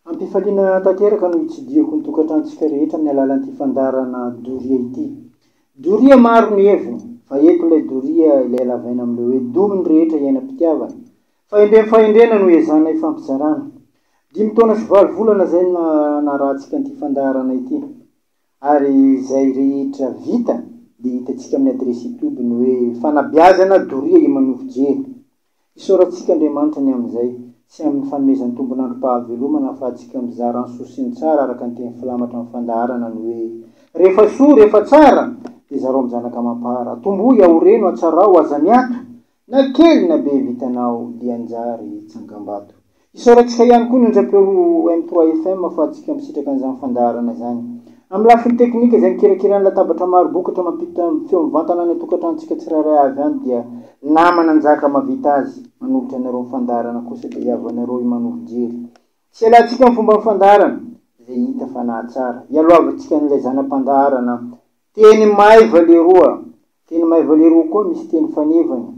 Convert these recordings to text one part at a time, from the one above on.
Am-pifaliana tanteraka no itsidihako ny tokantranontsika rehetra amin'ny alalan'ity fandaharana doria ity. Doria maro ny hevo, fa eto ilay doria ilay halavaina amin'ilay hoe domy ny rehetra iainam-pitiavana. Fahendrem fahendrena no iezahana ifampizarana. Dimy taona sy valo volana izay no narahantsika an'ity fandaharana ity. Ary izay rehetra vita dia hitantsika amin'ny adiresy youtube ny hoe fanabeazana doria i Manovo Jery. Isaorantsika Andriamanitra ny amin'izay, sy amin'ny fanomezan-tombon'androm-pahavelomana ahafahantsika mizara ny soa sy ny tsara araka ny teny filamatra amin'ny fandaharana ny hoe, Rehefa soa, rehefa tsara, dia zarao amin'ny zanaka amam-para. Tomboy, aoreno, atsarao, aza miato, na kely na be vitanao, dia anjary tsangambato. Hisaorakisa ihany koa ny onjampeo M3FM fa tsy mpikamisitraka an'izany fandaharana izany. Amin'ny lafiny teknika, izay mikirakira ny latabatra maro bokatra mampita amin'ny feo mivantana any an-tokantranontsika tsirairay avy any dia nama nanjaka mahavita azy, manolotra anareo ny fandaharana kosa dia ihavanareo io manovo jery sy ialatsika amin'ny fomban'ny fandaharana izay hita fa nahatsara, ialoavantsika an'ilay zana-pandaharana Teny Maiva leroa, Teny Maiva leroa koa misy teny fanevany.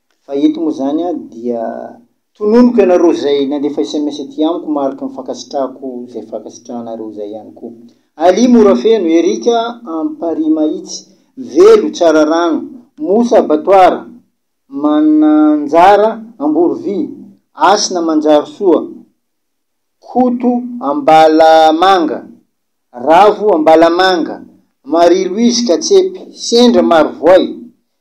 Fa eto moa izany aho dia tononiko ianareo izay nandefa sms aty amiko mariky ny fankasitrahako izay fankasitrahanareo izay ihany koa. Ali Morafeno, Eric Amparimahitsy, Velo Tsararano, Mosa Batoara, Mananjara Amborovy, Asina Manjarosoa, Koto Ambalamanga, Ravo Ambalamanga, Marie Louise Katsepy, Sendra Marovoay,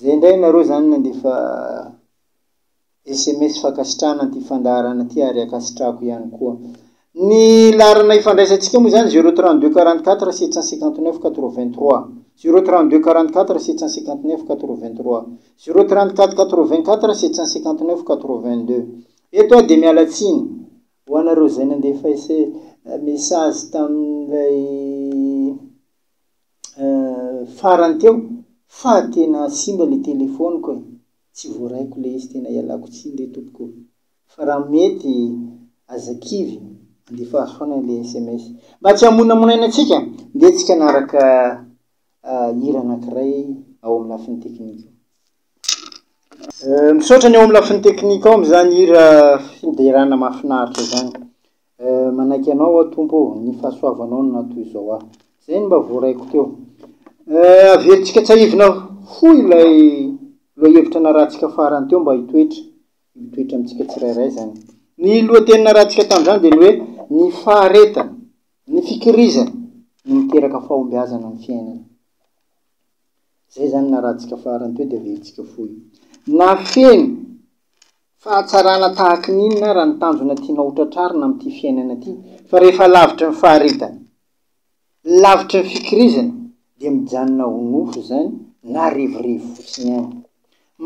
Zay ndray nareo zany nandefa sms fankasitrahana an'ity fandaharana ity ary ankasitrahako ihany koa. Ny laharana ifandraisantsika moa zany zero trente deux quarante quatre sept cent cinquante neuf quatre vingt trois, zero trente deux quarante quatre sept cent cinquante neuf quatre vingt trois, zero trente quatre quatre vingt quatre sept cent cinquante neuf quatre vingt deux. Eto aho dia miala tsiny ho anareo zay nandefa message tamin'ilay. Euh farany teo fa tena simba le telefoniko e! tsy voaraiko le izy tena ialako tsiny re tompoko o! fa raha mety aza kivy andefa azy foana le sms mba tsy hamonamonaina antsika ndeha tsika hanaraka hira anakiray ao amin'ny lafiny teknika ao. Euh misaotra ny ao amin'ny lafiny teknika ao amin'izany hira fiderana mahafinaritra izany. Eh, manaiky Anao aho Tompo ô, ny fahasoavanao no naha toy izao ahy. Izay no mba voaraiko teo. Eh, averintsika tsahivina fohy ilay lohahevitra narahantsika farany teo mba hitoetra, mitoetra amintsika tsirairay izany. Ny lohateny narahantsika tamin'izany dia ny hoe ny faharetana, ny fikirizana no miteraka fahombiazana amin'ny fiainana. Izay izany narahantsika farany teo dia averintsika fohy. Nafeno Fahatsarana tahaka ny inona ary ny tanjona tianao ho tratrarina amin'ity fiainana ity? Fa rehefa lavitry ny faharetana, lavitry ny fikirizana dia mijanona ho nofo izany na revirevy fotsiny ihany.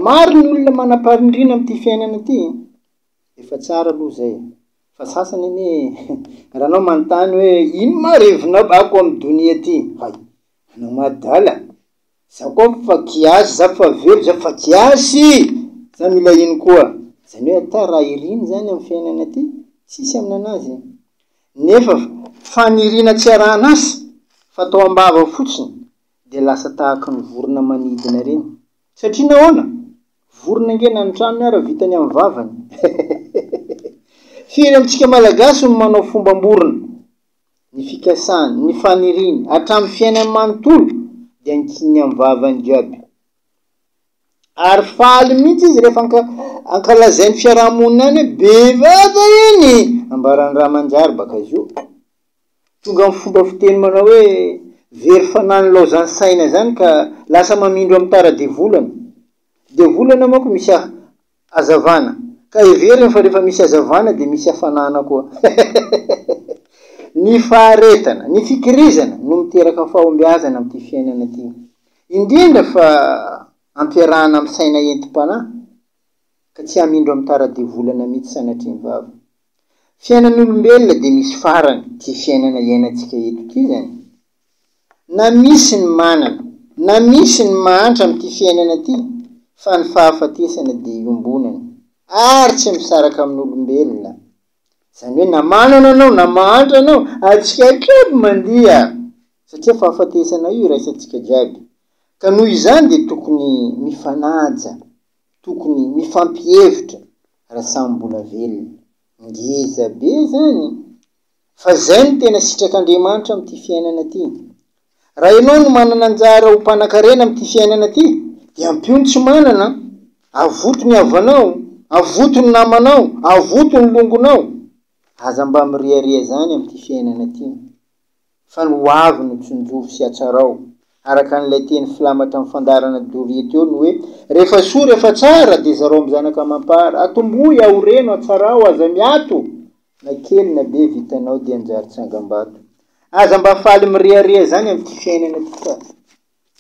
Maro ny olona manam-pahendrena amin'ity fiainana ity e! Efa tsara aloha izay e! Fa sasany anie e! Raha anao manontany hoe ino ma revinao ako amin'ny donia ity? Hay! Anao ma adala? Za koa fa kiasy za fa velo za fa kiasy za mila ino koa zany hoe ata raha iriny zany am fiainana aty tsisy am nanazy e nefa fanirina tsy arahanasa fa tao ambava fotsiny de lasa tahaka ny vorona manidina reny satria nahoana vorona nge na ny tranony ara vitany am vavany hehehehe firy amtsika malagasy no manao fomba am borona ny fikasany, ny faniriany, hatramin'ny fiainany manontolo, dia ankininy amin'ny vavany jiaby. Ary faly mihitsy izy rehefa anka, ankalazain'ny fiaraha-monina any hoe bevava iny, ambaran'ny ra manjary baka zo. Tonga amin'ny fomba fiteny manao hoe very fanahy nilaozan'ny saina izany ka lasa mamindro amin'ny tara-devolana. Devolana manko misy Hazavana. Ka heveriny fa rehefa misy hazavana dia misy hafanana koa. Ny faharetana, ny fikirizana no miteraka fahombiazana amin'ity fiainana ity. Indrindra fa ampiarahana amin'ny saina entim-panahy ka tsy hamindro amin'ny tara-devolana mihitsy sanatria ny vava. Fiainan'ny olombelona dia misy farany ity fiainana iainantsika eto ity izany. na misy ny manana na misy ny mahantra amin'ity fiainana ity fa ny fahafatesana dia iombonana ary tsy misaraka amin'olombelona izany hoe na manana anao na mahantra anao atsika jiaby mandia satria fahafatesana io iraisantsika jiaby ka noho izany dia tokony mifanaja tokony mifampihevitra raha samy mbola velona ngeza be zany Fa izay no tena sitrak'Andriamanitra amin'ity fiainana ity. Raha ianao no manana anjara ho mpanan-karena amin'ity fiainana ity, dia ampio ny tsy manana, avoto ny havanao, avoto ny namanao, avoto ny longonao. Aza mba miriaria izany amin'ity fiainana ity. fa ny ho avy no tsinjovy sy atsarao, araka an'ilay teny filamatra amin'ny fandaharana doria teo ny hoe, Rehefa soa, rehefa tsara, dia zarao amin'ny zanaka amam-para, atombohy, aoreno, atsarao, aza miato, na kely na be vitanao dia anjary tsangambato. Aza mba faly mirehareha izany amin'ity fiainana ity fa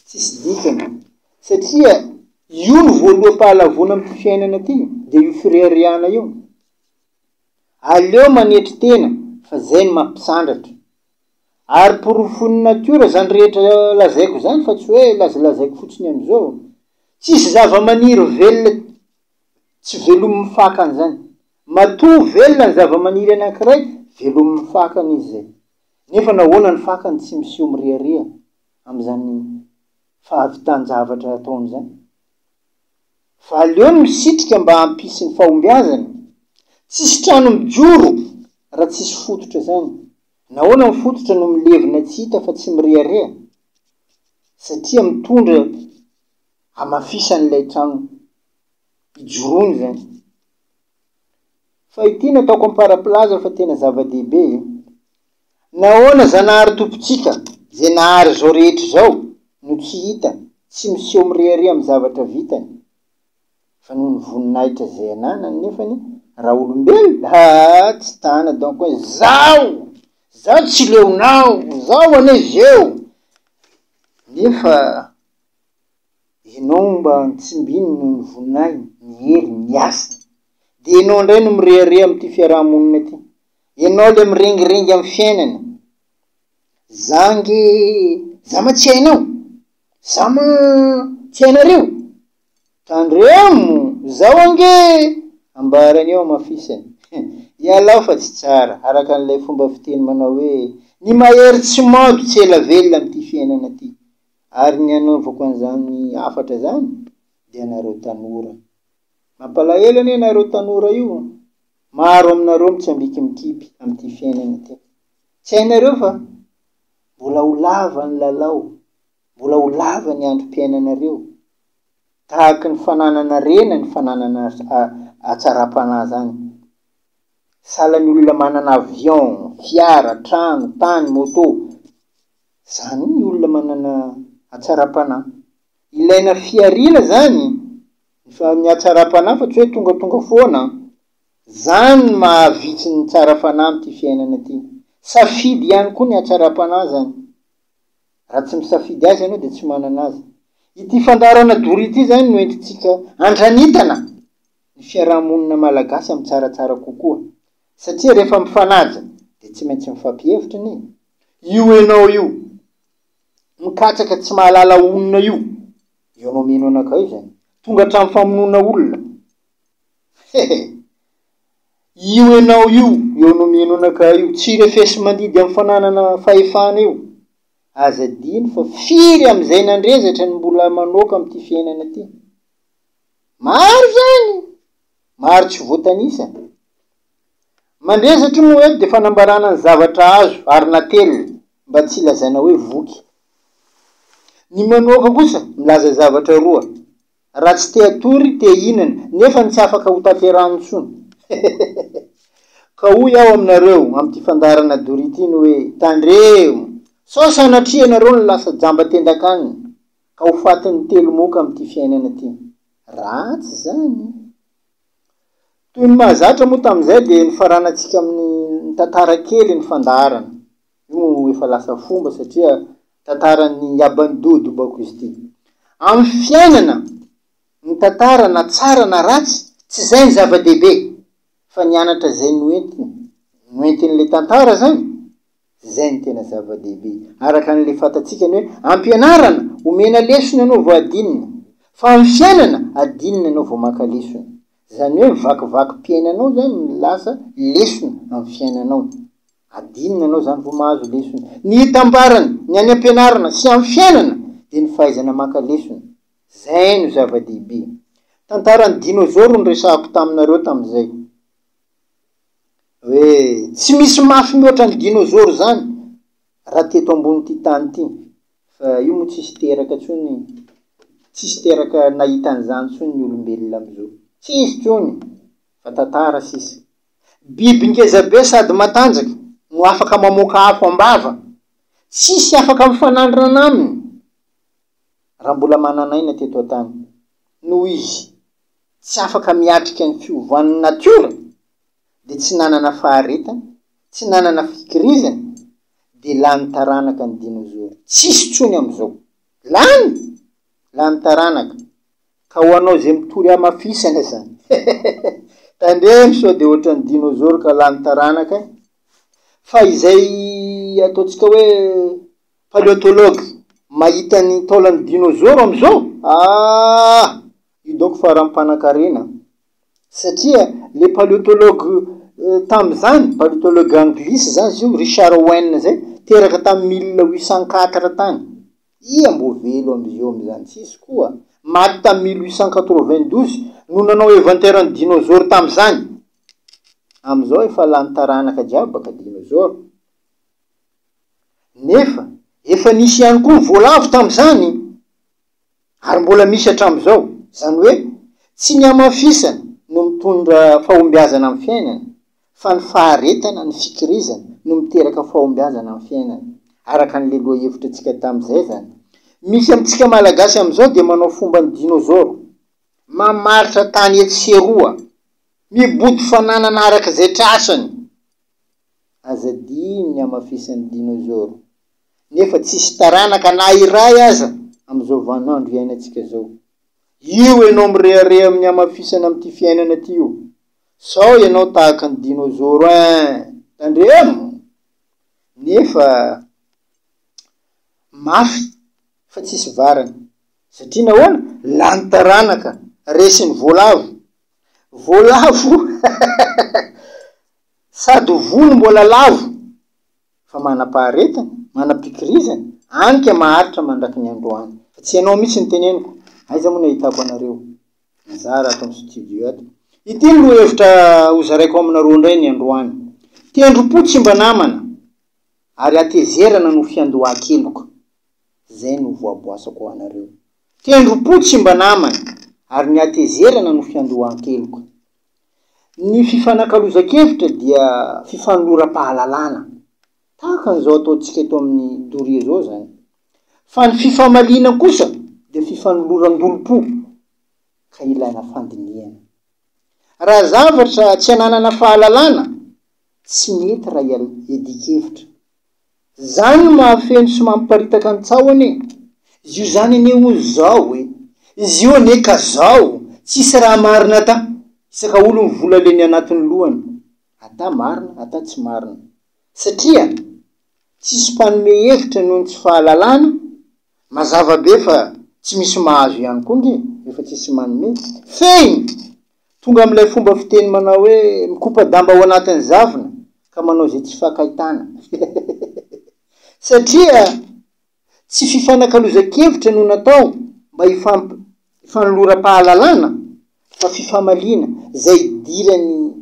tsisy dikany, satria io no voaloham-pahalavoana amin'ity fiainana ity, dia io fireharehana io. Aleo manetry tena fa zay no mampisandratra. Ary porofon'ny natiora zany rehetra lazaiko zany fa tsy hoe lazalazaiko fotsiny amizao. Tsisy zavamaniry velona tsy velomin'ny fakany zany. Matoa velona ny zavamaniry anakiray, velomin'ny fakany izy zay. Nefa nahoana ny fakany tsy miseho miriaria amizany fahavitan-javatra ataony zany? fa aleo ny misitrika mba hampisy ny fahombiazany. Tsisy trano mijoro raha tsisy fototra zany. Nahoana ny fototra no milevina tsy hita fa tsy mirehareha? Satria mitondra hamafisan'ilay trano ijoroany zany. Fa ity nataoko ampara-pilaza fa tena zava-dehibe e. Nahoana Zanahary Tompontsika izay nahary izao rehetra izao no tsy hita sy miseho mirehareha amin'ny zavatra vitany? Fa noho ny voninahitra izay ananany nefany raha olombelona haa tsy tana donc hoe zaho zaho tsy leonao zaho anie zeo nefa ianao mba tsimbininy noho ny voninahiny, ny heriny, ny asany dia ianao indray no mirehareha amin'ity fiaraha-monina ity. Enao le miringiringy am fiainana za nge za ma tsy hainao za ma tsy hainareo tandremo zao ange ambarany eo amafisany ialao fa tsy tsara araka an'ilay fomba fiteny manao hoe ny mahery tsy mado tsy ela velona amty fiainana ty ary ny anaovako an'zany hafatra zany de anareo tanora mampalahelo anie nareo tanora io Maro aminareo mitsambiki mikipy amin'ity fiainana ity. Tsy hainareo fa mbola ho lava ny lalao, mbola ho lava ny androm-piainanareo. Tahaky ny fananana rena ny fananana hatsaram-panahy zany. Sahala ny olona manana avion, fiara, trano, tany, moto. Zany ny olona manana hatsaram-panahy. Ilaina fihariana zany. Ny fa ny hatsaram-panahy fa tsy hoe tongatonga foana an! Zany ny maha vitsy ny tsara fanahy am ty fiainana ty. Safidy ihany koa ny hatsaram-panahy zany. Raha tsy misafidy azy ianao dia tsy manana azy. Ity fandaharana dory ity zany no entintsika andranitana ny fiaraha-monina malagasy am tsaratsara kokoa. Satria rehefa mifanaja dia tsy maintsy mifampihevitra anie. Io enao io mikatsaka tsy mahalala honina io. Eo no mino anakay izany. Tonga hatramin'ny famonoana olona. He he. Io enao io, eo no mino anakay io, tsy refesi-mandidy amin'ny fananana fahefana io. Aza adino fa firy amin'izay nandrezatra no mbola manoaka amin'ity fiainana ity. Maro izany! Maro tsy voatanisa. Mandre satria moa eto dia fanambarana ny zavatra azo ary natelina mba tsy lazaina hoe voky. Ny manoaka kosa milaza zavatra roa, raha tsy te hatory, te hihinana, nefa ny tsy afaka ho tanterahany intsony. Ka hoy aho aminareo amin'ity fandaharana dory ity ny hoe, tandremo! Sao sanatria ianareo no lasa jamba tendan-kanina, ka ho fatin'ny telo moka amin'ity fiainana ity. Ratsy izany! Toy ny mahazatra moa tamin'izay dia nifaranantsika amin'ny tantara kely ny fandaharana. Io moa efa lasa fomba satria tantaran'i Yabandu do Bakusti. Amin'ny fiainana, ny tantara na tsara na ratsy, tsy izay ny zava-dehibe fa ny anatra izay noentiny. Noentin'ilay tantara izany Tsy izay no tena zava-dehibe, araka an'ilay fantatsika ny hoe ampianarana, omena lesona ianao vao adinina, fa amin'ny fiainana, adinina ianao vao maka lesona. Izany hoe ny vakivakim-piainanao izany no lasa lesona amin'ny fiainanao. Adinina ianao izany vao mahazo lesona. Ny itambarany, ny any am-pianarana sy amin'ny fiainana, dia ny fahaizana maka lesona. Izay no zava-dehibe. Tantaran'ny dinôzôro no resahako taminareo tamin'izay. Hoe tsy misy mafy mihoatra ny dinôzôro zany raha teto ambonin'ity tany ity fa io moa tsisy teraka tsony tsisy teraka nahita an'izany tsony ny olombelona amizao tsisy tsony fa tantara sisa biby ngeza be sady matanjaka no afaka mamoaka afo ambava tsisy afaka mifanandrina aminy raha mbola manan'aina teto atany noho izy tsy afaka miatrika ny fiovan'ny natiora dia tsy nanana faharetana, tsy nanana fikirizana dia lany taranaka ny dinozoro. Tsisy tsony amizao. Lany! Lany taranaka. Ka ho anao izay mitory hamafisana izany. Tandremo sao dia ohatran'ny dinozoro ka lany taranaka. Fa izay ataontsika hoe paleontologue mahita ny taolan'ny dinozoro amizao, ah! Hidoko fa raha mpanankarena. Satria le paleontologue tamin'izany, paleontologue anglisy izany izy io, Richard Owen izay, teraka tamin'ny mille huit cent quatre tany. Iza mbo velo amzio amzany? Tsisy koa. Maty tamin'ny mille huit cent quatre vingt douze no nanao eventaire ny dinosaure tamin'izany. Amzao efa lany taranaka jiaby baka dinosaure. Nefa efa nisy ihany koa ny voalavo tamin'izany. ary mbola misy hatramin'izao, izany hoe tsy ny hamafisana no mitondra fahombiazana amin'ny fiainana fa ny faharetana, ny fikirizana no miteraka fahombiazana amin'ny fiainana, araka an'ilay lohahevitra antsika tamin'izay izany. Misy amintsika Malagasy amin'izao dia manao fomba ny dinôzôro, mamaritra tany etsy sy eroa, mibodo fananana araka izay trasany. Aza adino ny hamafisan'ny dinôzôro. nefa tsisy taranaka na iray aza amin'izao vanin'andro iainantsika zao. Io ianao mirehareha amin'ny hamafisana amin'ity fiainana ity io. Sao ianao tahaka ny dinôzôro ein! Tandremo! Nefa mafy fa tsisy varany. Satria nahoana? Lany taranaka, resin'ny voalavo. Voalavo sady ho vono mbola lavo. fa manam-paharetana, manam-pikirizana, any ka maharitra mandraky ny androany. Fa tsy ianao mihitsy no teneniko, aiza moa ny ahitako anareo mizara ato amin'ny studio ato. Ity ny lohahevitra hozaraiko aminareo indray ny androany. Tendrom-po tsy mba namana, ary hatezerana no fiandohan-keloka. Izay no voaboasako ho anareo. Tendrom-po tsy mba namana, ary ny hatezerana no fiandohan-keloka. Ny fifanakalozan-kevitra dia fifanoram-pahalalana, tahaka an'izao ataontsika eto amin'ny doria izao izany. Fa ny fifamaliana kosa dia fifanoloran-dolom-po, ka ilaina fandinihana. Raha zavatra tsy ananana fahalalana, tsy mety raha iadian-kevitra. Zany no mahafeno sy mamparitaka ny tsaho anie. Zio zany anie olo zao e. Zio anie ka zao. Tsisy raha marina ata. Isaka olo ny vola leny anatiny lohany. Ata marina ata tsy marina. Satria tsisy mpanome hevitra noho ny tsy fahalalana, mazava be fa tsy misy mahazo ihany koa nge refa tsisy manome. Fehiny! Tonga amin'ilay fomba fiteny manao hoe mikopa-damba ao anatin'ny zavona ka manao izay tsy fankahitana. Satria tsy fifanakalozan-kevitra no natao mba hifanoloram-pahalalana fa fifamaliana, izay idiran'ny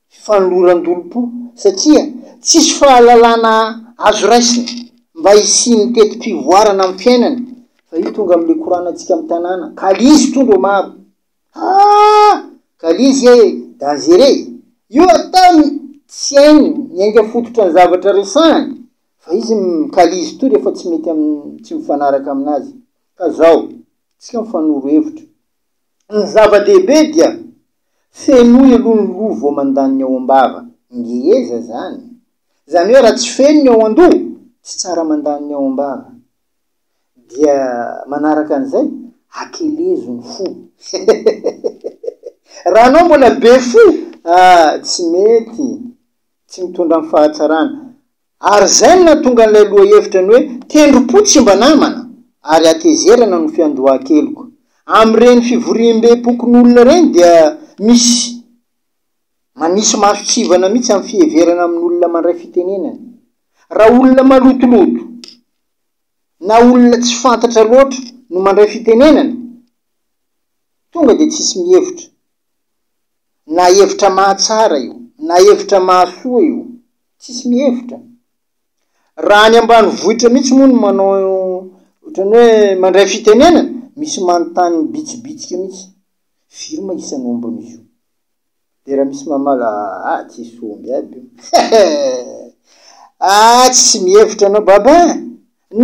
fifanoloran-dolom-po satria tsisy fahalalana azo raisina mba hisian'ny teti-pivoarana amin'ny fiainana fa io tonga amin'ilay koranantsika amin'ny tanàna ka lzy tondro maro Haa! Kalizy ee! Dangereux ee! Io ataony tsy hainy ny ainga fototra ny zavatra resahany fa izy mikalizy toa rehefa tsy mety amin'ny tsy mifanaraka aminazy. Ka zao, tsika mifanoro hevitra. Ny zava-dehibe dia fenoy aloha ny loha vao mandany ny ao am-bava. Ngeza zany. Zany hoe raha tsy feno ny ao an-doha, tsy tsara mandany ny ao am-bava. dia manaraka an'izay akelezo ny fo raha anao mbola be fo ah tsy mety tsy mitondra ny fahatsarana ary izay no nahatonga an'ilay lohahevitra ny hoe tendrom-po tsy mba namana ary hatezerana no fiandohan-keloka amin'ireny fivoriambem-pokon'olona ireny dia misy Manisy maso tsivana mihitsy amin'ny fiheverana amin'olona mandray fitenenana. Raha olona malotoloto na olona tsy fantatra loatra no mandray fitenenana, tonga dia tsisy mihevitra. Na hevitra mahatsara io, na hevitra mahasoa io, tsisy mihevitra. Raha any ambanivohitra mihitsy moa no manao ohatran'ny hoe mandray fitenenana, misy manontany mibitsibitsika mihitsy. Firy ma isan'ny ombin'izy io? De raha misy mamala ah tsisy omby aby io ah tsy mihevitra anao baba eh!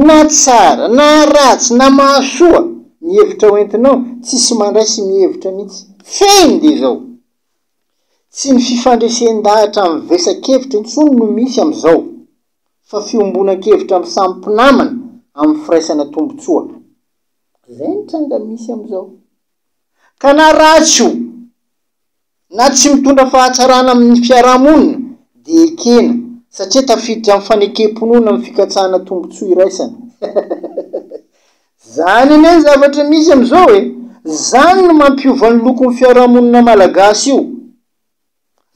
na tsara na ratsy na mahasoa ny hevitra ho entinao tsisy mandray sy mihevitra mihitsy fehiny de zao tsy ny fifandresen-dahatra mivesa-kevitra intsony no misy amizao fa fiombonan-kevitra amy samy mpinamana amy firaisana tombotsoa zay ny tranga misy amizao ka na ratsy io na tsy mitondra fahatsarana amin' ny fiarahamonina dia ekena satria tafiditra amin'ny fanekem-pinoana ny fikatsahana tombontsoa iraisana. Izany anie ny zavatra misy amin'izao e! Izany no mampiova ny lokon'ny fiarahamonina malagasy io.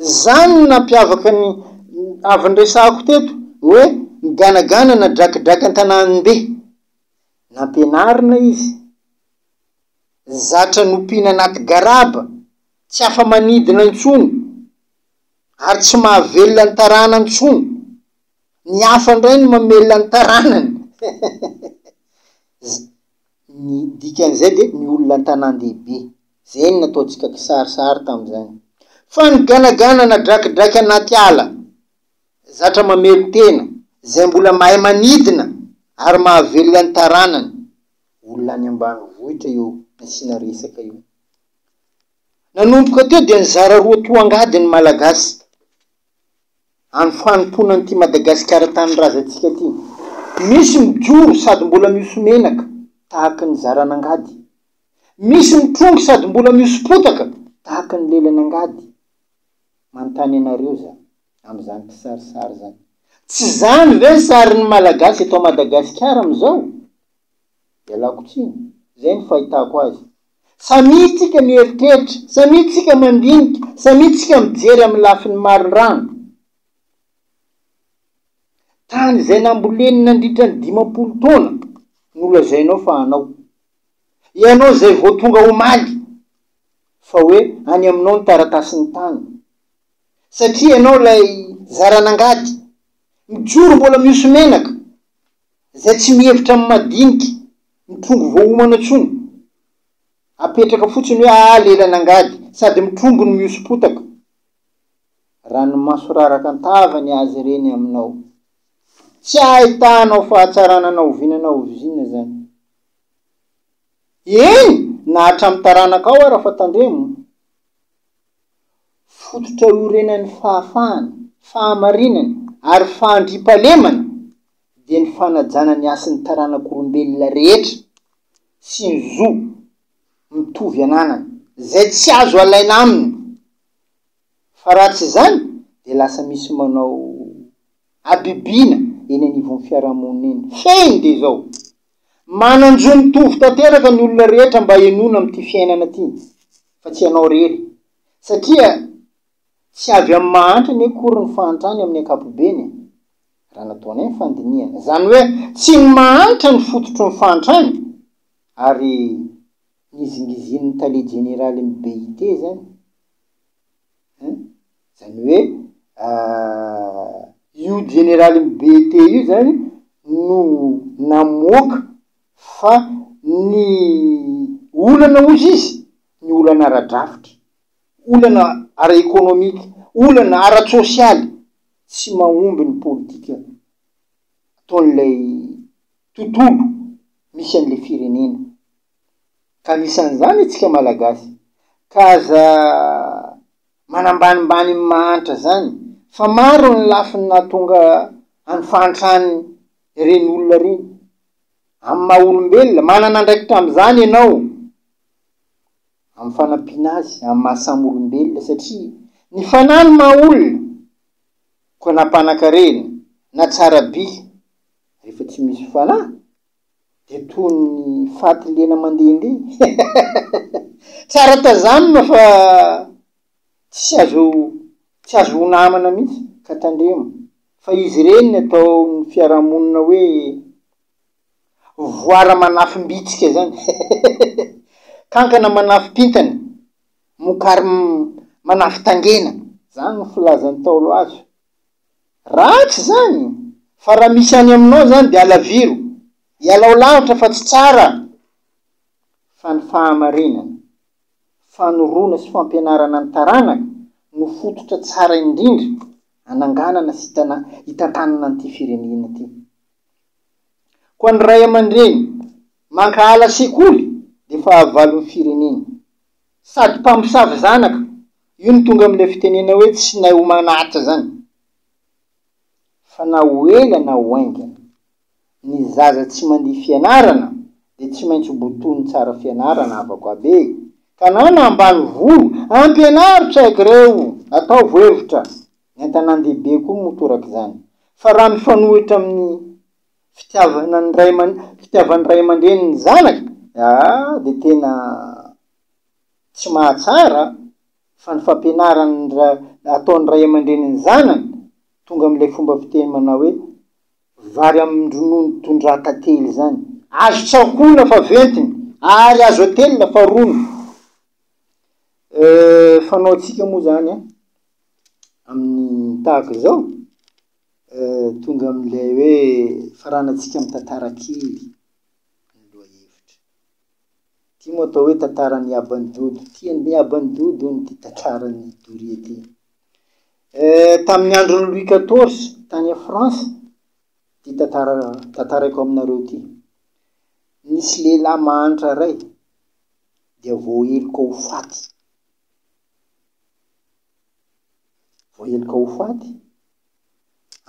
Izany no nampiavaka ny avy niresahako teto hoe ny ganagana na drakidrak' an-tanàn'be. Nampianarina izy. Zatra nompiana anaty garaba, tsy afa-manidina intsony, ary tsy mahavelona ny tarana intsony. Ny hafa indray no mamelona ny taranany. Ny dikan'izay dia ny olona an-tanàn-dehibe. Izay no nataontsika kisarisary tamin'izany. Fa ny ganagana na drakidraky anaty ala, zatra mamelon-tena, izay mbola mahay manidina ary mahavelona ny taranany. olona any ambanivohitra io nasiana resaka io. Nanomboka teo dia nizara roa toa angady ny Malagasy any fanompoana an'ity Madagasikara tanindrazantsika ity. Misy mijoro sady mbola mihoso menaka tahaka ny zaran'angady. Misy mitrongy sady mbola mihoso potaka tahaka ny lelan'angady. Manontany anareo za amin'izany kisarisary izany. Tsy izany ve ny sarin'ny Malagasy eto Madagasikara amin'izao? Ialako tsiny, izay no fahitako azy. Samia tsika mieritreritra, samia tsika mandinika, samia tsika mijery amin'ny lafiny maro rano. Tany izay namboleny nandritra ny dimampolo taona no lazainao fa anao. Ianao izay vao tonga omaly fa hoe any aminao ny taratasin'ny tany. Satria ianao ilay zaran'angady, mijoro mbola mihoso menaka. Izay tsy mihevitra ny madinika, mitrombo voaomana intsony. Apetraka fotsiny hoe aa lelana angady, sady mitrombo ny mihoso-potaka. Ranomaso raraka an-tava ny azy ireny aminao. Tsy ahitanao fahatsarana na oviana na oviana izany. Eny, na hatramin'ny taranakao ara fa tandremo. Fototra iorenan'ny fahafahana, fahamarinana, ary fandriampahalemana. dia ny fanajana ny hasin'ny taranak'olombelona rehetra sy ny zo mitovy ananany izay tsy azo alaina aminy fa raha tsy izany dia lasa misy manao habibiana eny anivon'ny fiarahamonina eny. Fehiny dia izao, manan-jo mitovy tanteraka ny olona rehetra mba henoina amin'ity fiainana ity fa tsy ianao irery satria tsy avy amin'ny mahantra anie akory ny fahantrany amin'ny ankapobeny e. raha nataonay ny fandinihana, izany hoe tsy ny mahantra ny fototry ny fahantrana ary nizingizin'ny tale jeneralin'ny BIT izany an, izany hoe io jeneralin'ny BIT io izany no namoaka fa ny olana hozy izy, ny olana ara-drafitra, olana ara-ekonomika, olana ara-tsosialy tsy mahomby ny politika ataon'ilay tontolo misy an'ilay firenena, ka anisan'izany antsika Malagasy, ka aza manambanimbany ny mahantra zany, fa maro ny lafiny nahatonga an'ny fahantrany ireny olona ireny amin'ny maha olombelona, manana andraikitra amin'izany ianao. amin'ny fanampiana azy amin'ny maha samy olombelona satria ny fanahy no maha olona koa na mpanakarena na tsara by rehefa tsy misy fanahy dia toy ny faty lena mandehandeha hehehehe tsara tazanina fa tsy azo tsy azo ho namana mihitsy ka tandremo fa izy ireny ny ataon'ny fiarahamonina hoe Voara manafim-bitsika zany kankana manafim-pintana, mokary manafin-tangena. Zany no filazan'ny Ntaolo azy. Ratsy zany fa raha misy any aminao zany dia alaviro, ialao lavitra fa tsy tsara. Fa ny fahamarinana, fanoroana sy fampianarana ny taranaka no fototra tsara indrindra ananganana sy hitantanana an'ity firenena ity. Koa ny ray aman-dreny mankahala sekoly dia fahavalon'ny firenena. Sady mpamosavy zanaka, io no tonga amin'ilay fitenena hoe tsy nahy homana Atra izany. Fa na ho ela na ho haingana, ny zaza tsy mandihy fianarana dia tsy maintsy ho botoin'ny tsara fianarana havako aby e! Tanàna ambanivolo, ampianaro tsy haiko ireo, ataovo hevitra. Ny an-tanàn-dehibe koa motoraka izany. Fa raha mifanohitra amin'ny fitiavana ny ray aman- fitiavan'ny ray aman-dreny ny zanaka, ah, dia tena tsy mahatsara fa ny fampianarany ra- ataon'ny ray aman-dreny ny zanany, tonga amin'ilay fomba fiteny manao hoe, vary amin-dronono tondraha tantely izany. Azo tsakoana fa ventiny, ary azo atelina fa rony. Eh, fanaontsika moa izany an! amin'ny tahaka izao, tonga amin'ilay hoe faranantsika amin'ny tantara kely ny lohahevitra. Ity moa atao hoe tantaran'i Aba ny Dodo. Tian'i Aba ny Dodo hono ity tantaran'i Doria ity. Tamin'ny andron'i Louis XIV tany France, ity tantara tantaraiko aminareo ity. Nisy lehilahy mahantra iray dia voaheloka ho faty Voaheloka ho faty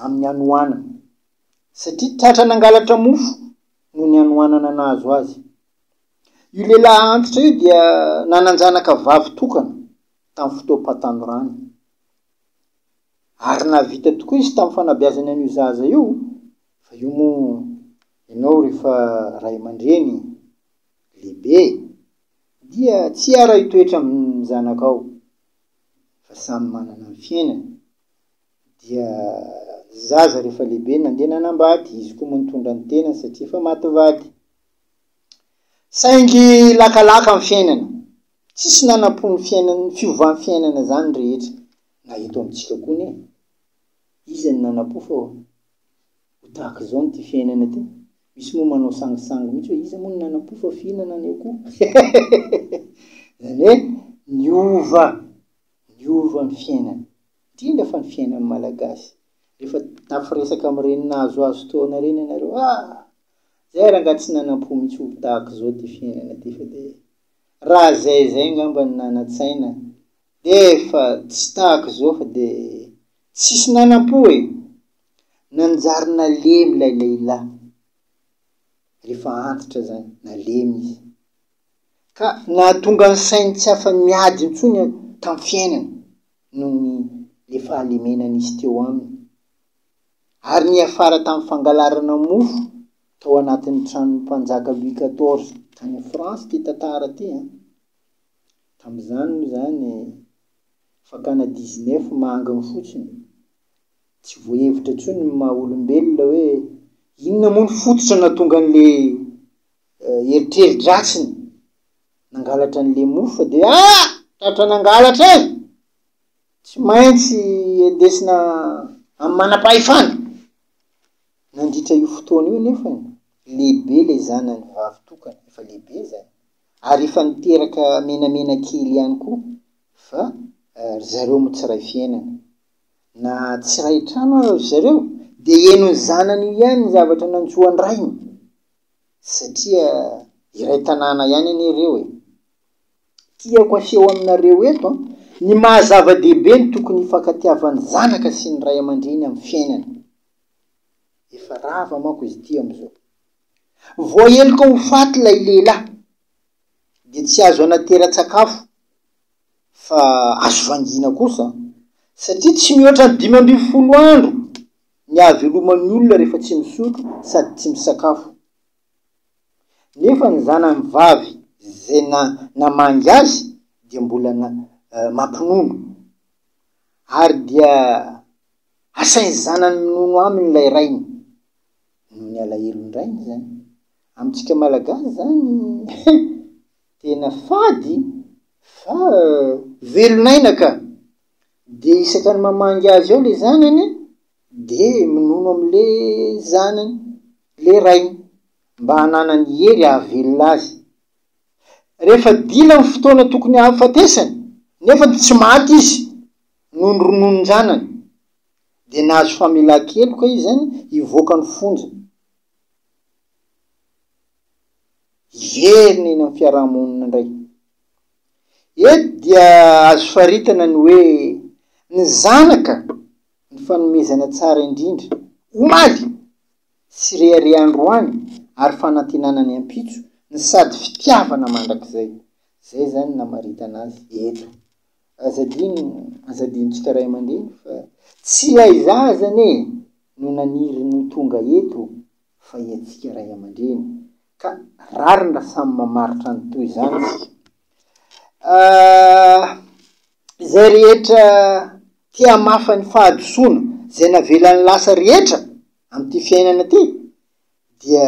amin'ny hanoanana satria tratra nangalatra mofo noho ny hanoanana nahazo azy. Io lehilahy antitra io dia nanan-janaka vavy tokana tamin'ny fotoam-pahatanorany. Ary nahavita tokoa izy tamin'ny fanabeazany an'io zaza io, fa io moa ianao rehefa ray aman-dreny lehibe. Dia tsy hiara-hitoetra amin'ny zanakao, fa samy manana ny fiainany. Dia ny zaza rehefa lehibe nandeha nanambady, izy koa moa nitondra ny tenany satria efa maty vady. Saingy lakalaka ny fiainana. Tsisy nanampo ny fiainana, fiovan'ny fiainana izany ny rehetra. Na eto amintsika koa anie, iza no nanampo fa Ho tahaka izao ny ty fiainana ty. Misy moa manao sangisangy mihitsy hoe iza moa no nanam-po fa fihinana anio koa. Izany hoe niova, niova ny fiainana. Indrindra fa ny fiainan'ny Malagasy. Rehefa tafy resaka amin'ireny nahazoazo taona ireny ianareo, ah! Izay rangaha tsy nanam-po mihitsy ho tahaka izao ty fiainana ty fa dia raha izay izay angamba no nanan-tsaina dia efa tsy tahaka izao fa dia. Tsisy nanam-po e! Nanjary nalemy ilay lehilahy, rehefa antitra izany, nalemy izy. Ka nahatonga ny sainy tsy afa-miady intsony tamin'ny fiainany, noho ny le fahalemena nisy teo aminy. Ary niafara tamin'ny fangalarana mofo tao anatin'ny tranon'ny mpanjaka Louis quatorze, tany France ity tantara ity an! Tamin'izany moa izany, Fakana dix neuf manginy fotsiny. Tsy voahevitra intsony ny maha olombelona hoe inona moa ny fototra nahatonga an'ilay eritreri-dratsiny nangalatra an'ilay mofo fa dia ah! tratra nangalatra eh! Tsy maintsy endesina amin'ny manam-pahefana. Nandritra io fotoana io anefa, lehibe ilay zanany vavy tokana, efa lehibe izany, ary efa niteraka menamena kely ihany koa. Fa ry zareo moa tsy ray fiainana. Na tsy ray trano aza ry zareo dia henon'ny zanany io ihany ny zavatra nantsoan'ny rainy. Satria iray tanàna ihany anie ireo e. Tiako aseho aminareo eto ny maha zava-dehibe ny tokony hifankatiavan'ny zanaka sy ny ray aman-dreny amin'ny fiainana. Efa rava manko izy ity amin'izao. Voaheloka ho faty ilay lehilahy. dia tsy azo anatera-tsakafo fa azo vangiana kosa satria tsy mihoatra ny dimy ambin'ny folo andro ny ahaveloman'ny olona rehefa tsy misotro sady tsy misakafo. Nefa ny zanany vavy izay namangy azy dia mbola mampinono. Ary dia asain'ny zanany minono aminy ilay rainy. Noho ny alahelon'ny rainy izany. Amintsika malagasy zany tena fady fa velon'aina ka! Dia isaka ny mamangy azy ao le zanany dia minono amle zanany le rainy mba hananany hery hahavelona azy. Rehefa dila ny fotoana tokony hahafatesany nefa tsy maty izy noho ny rononon-janany dia nahazo famelan-keloka izy zany hivoaka ny fonja. hiverina eny amin'ny fiarahamonina indray. Eto dia azo faritana ny hoe ny zanaka ny fanomezana tsara indrindra, omaly sy rehareha androany ary fanantenana ny ampitso, ny sady fitiavana mandrakizay. Izay izany namaritana azy eto. Aza adino, aza adinontsika ray aman-dreny fa tsy ilay zaza anie no naniry ny ho tonga eto fa iantsika ray aman-dreny, ka rariny raha samy mamaritra ny toy izany isika. Ah, izay rehetra te hamafa ny fahadisoana izay navelany lasa rehetra amin'ity fiainana ity, dia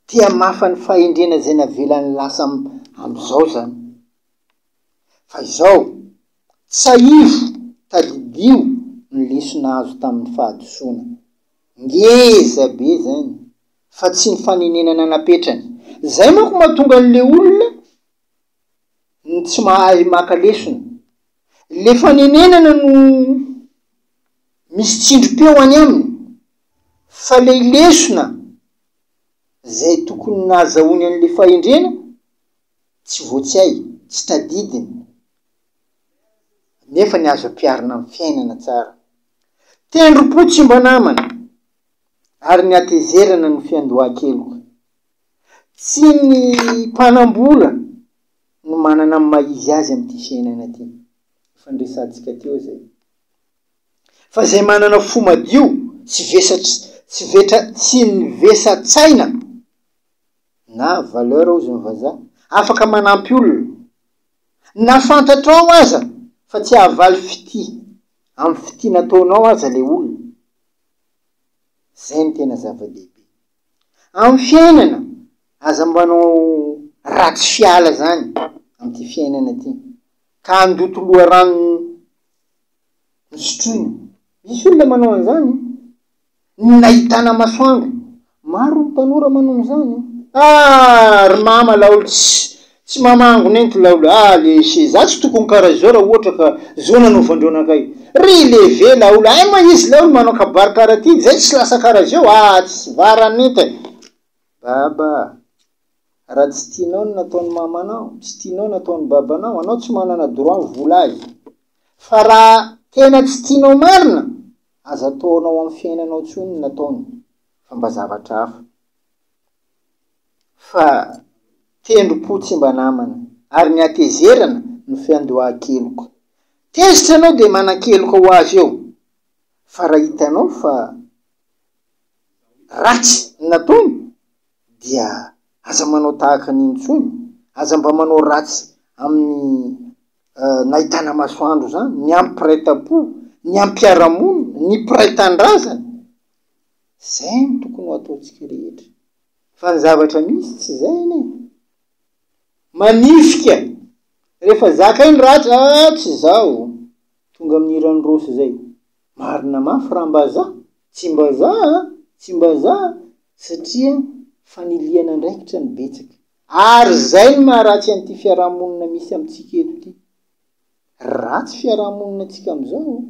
te hamafa ny fahendrena izay navelany lasa am- amin'izao izany. Fa izao, tsiahivo, tadidio ny lesona azo tamin'ny fahadisoana. Ngeza be izany, fa tsy ny fanenenana napetrany. Izay manko mahatonga an'ilay olona ny tsy mahay maka lesona. Ilay fanenenana no misy tsindrim-peo any aminy, fa ilay lesona izay tokony nahazahoany an'ilay fahendrena, Tsy voatsiahy, tsy tadidiny, nefa ny azo ampiharina amin'ny fiainana tsara. Tendrom-po tsy mba namana, ary ny hatezerana no fiandohan-keloka. Tsy ny mpanam-bola no manana ny maha izy azy amin'ity fiainana ity, efa niresahantsika teo izay, fa izay manana fo madio sy vesatra, tsy vetra, tsy ny vesan-tsaina. Na valeur hozy ny vazaha. Afaka manampy olona. Na fantatrao aza fa tsy hahavaly fitia amin'ny fitia nataonao aza ilay olona. Izay no tena zava-dehibe. Amin'ny fiainana, aza mbanao ratsy fiala izany amin'ity fiainana ity, ka handoto loharano nosotroina. Misy olona manao an'izany. ny nahitana masoandro. Maro ny tanora manao an'izany. Ah! ry mama laolo tsy tsy mamango nento laolo ah lesy e! za tsy tokony karaha izao raha ohatra ka zo nanaovandreo anakay. Ry leve laolo hay moa izy laolo manao kabary karaha ty zay tsy lasa karaha zeo ah tsy vara nento e! Baba ah! raha tsy tianao ny nataon'i mamanao, tsy tianao ny ataon'i babanao, anao tsy manana droit mivolazy fa raha tena tsy tianao marina, Aza ataonao amin'ny fiainanao intsony ny nataony fa mba zavatra hafa. Fa tendrom-po tsy mba namana ary ny hatezerana no fiandohan-keloka. Tezitra ianao dia manan-keloka ho azy eo fa raha hitanao fa ratsy ny nataony dia aza manao tahaka ny intsony, aza mba manao ratsy amin'ny. nahitana masoandro izany, ny amin'ny mpiray tampo, ny amin'ny mpiara-monina, ny mpiray tandrazana. Izay no tokony ho ataontsika rehetra. Fa ny zavatra misy tsy izay anie. Manifika. Rehefa zakay ny ratsy, ah tsy izao. Tonga amin'ny hiran'i Rossy izay. Marina mafy raha mba za. Tsy mba za, tsy mba za satria fanilihana andraikitra no betsaka. Ary zay no maharatsy an'ity fiarahamonina misy amintsika eto ity. Ratsy fiarahamonina antsika amizao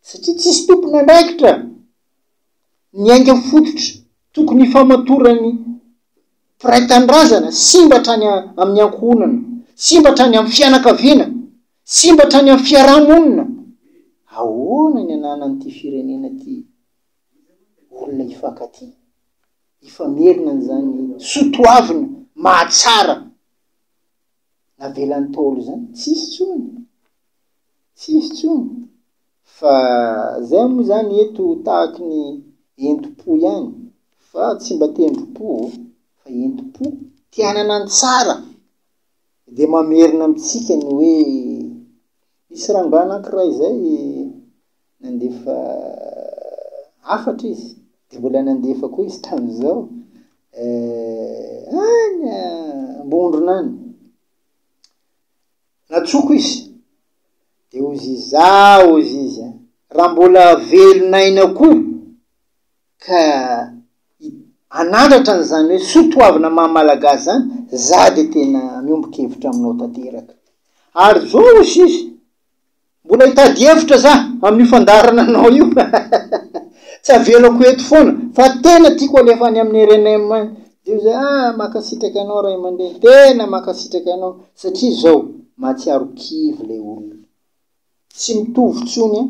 satria tsisy tompon'andraikitra ny ainga fototra tokony hifamatoran'ny mpiray tanindrazana simba hatrany amin'ny ankohonana, simba hatrany amin'ny fianakaviana, simba hatrany amin'ny fiarahamonina. Ahoana ny ananan'ity firenena ity olona hifankatia? hifamerina an'izany soatoavina mahatsara navelan'ny Ntaolo izany? Tsisy intsony! Tsisy intsony! Fa izay moa izany eto tahaky ny entim-po ihany, fa tsy mba tendrom-po ô, fa entim-po, te hanana ny tsara, dia mamerina amintsika ny hoe, nisy rangahy anankiray izay, Nandefa hafatra izy dia mbola nandefa koa izy tamin'izao any Ambondrona any. Natsoko izy dia hozy izaho hozy izy a, raha mbola velon'aina koa ka hanandratra an'izany hoe soa toavina maha malagasy izany, za dia tena miombon-kevitra aminao tanteraka. Ary zao hozy izy, Mbola hitady hevitra za amin'io fandaharananao io tsy avelako eto foana fa tena tiako alefa any amin'ny rnm any de io zay ah makasitraka anao ray aman-dreny tena makasitraka anao satria zao mahatsiaro kivy lay olona tsy mitovy tsony a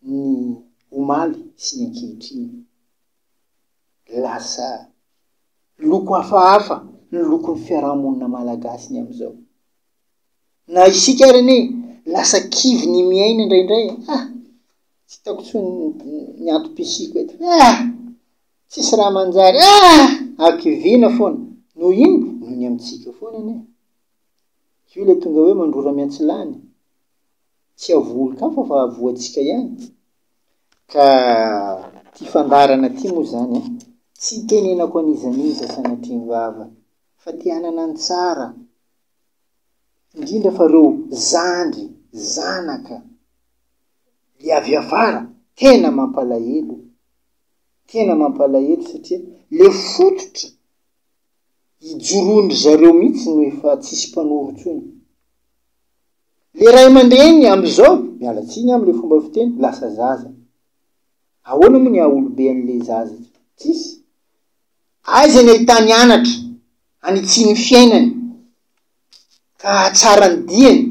ny omaly sy ny ankehitriny lasa loko hafahafa ny lokon'ny fiarahamonina malagasy ny amizao Na isika ary anie lasa kivy ny miaina indraindray e! Hah! Tsy hitako intsony ny antom-pisiako eto. Hah! Tsisy raha manjary. Hah! Hakiviana foana. Noho ino? Noho ny amintsika foana anie. Io ilay tonga hoe mandrora miantsilany. Tsy havoa-olon-kafa fa havoantsika ihany. Ka ity fandaharana ity moa izany an, tsy itenenako an'iza n'iza sanatria ny vava fa te hanana ny tsara. indrindra fa reo zandry zanaka le avy afara tena mampalahelo tena mampalahelo satria le fototra ijoroan-dry zareo mihitsy no efa tsisy mpanoro intsony le ray aman-dreny am'izao miala tsiny am'le fomba fiteny lasa zaza ahoana moa ny haha olobe an'le zaza tsisy aiza ny ahitany anatra hanitsian'ny fiainany ka hahatsara ny diany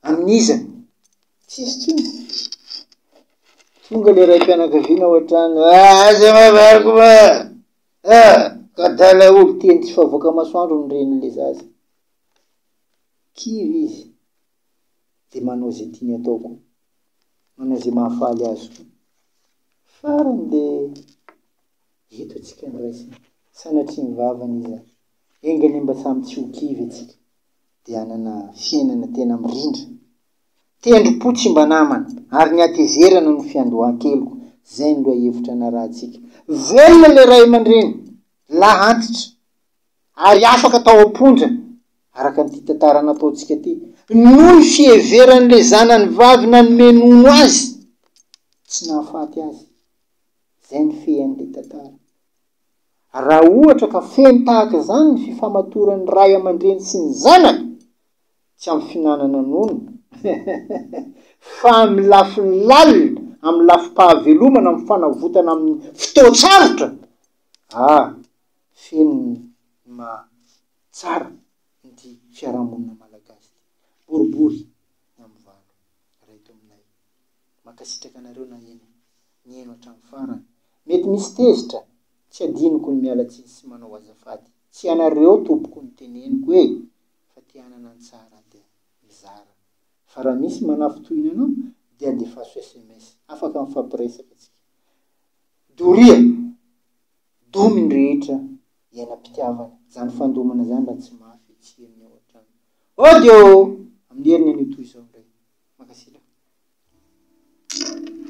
amin'iza? Tsy hisy intsony. Tonga ilay raim-pianakaviana ao an-trano, Aza mavariko fa ah! ka dala olo teny tsy favoaka masoandro ny renin'ilay zaza. Kivy izy dia manao izay tiany atao koa, manao izay mahafaly azy koa. Farany dia Eto tsika ndray sy sanatria ny vavany iza enga anie mba samy tsy ho kivy atsika de hanana fiainana tena mirindra. Tendrom-po tsy mba namana ary ny hatezerana no fiandohan-keloka, zay ny lohahevitra narahantsika. Velona le ray aman-dreny lahy antitra ary afaka tao am-ponja araka an'ity tantara nataontsika ty noho ny fiheveran'le zanany vavy nanome nono azy tsy nahafaty azy. Zany fehen'ny ry tantara. Raha ohatra ka feno tahaka izany ny fifamatoran'ny ray aman-dreny sy ny zanaka, tsy amin'ny fihinanana nono, fa amin'ny lafiny lalina, amin'ny lafim-pahavelomana, amin'ny fanavotana amin'ny fotoan-tsarotra, ah, feno ny maha tsara ity fiarahamonina malagasy ity. Boribory na mivalo, ray tominay. Mankasitraka anareo naheno niheno hatramin'ny farany. Mety misy tezitra, tsy adinoko ny miala tsiny sy manao azafady. Tsy ianareo tompoko ny teneniko e! Fa te hanana ny tsara dia mizara. Fa raha misy manafintohina anao dia andefaso sms. Afaka mifampiresaka tsika. Doria! Domy ny rehetra iainam-pitiavana. Zany fandomana zany raha tsy mafy tsy henony ao an-trano. Audio amin'ny heriny anio toy izao indray. Mankasitraka.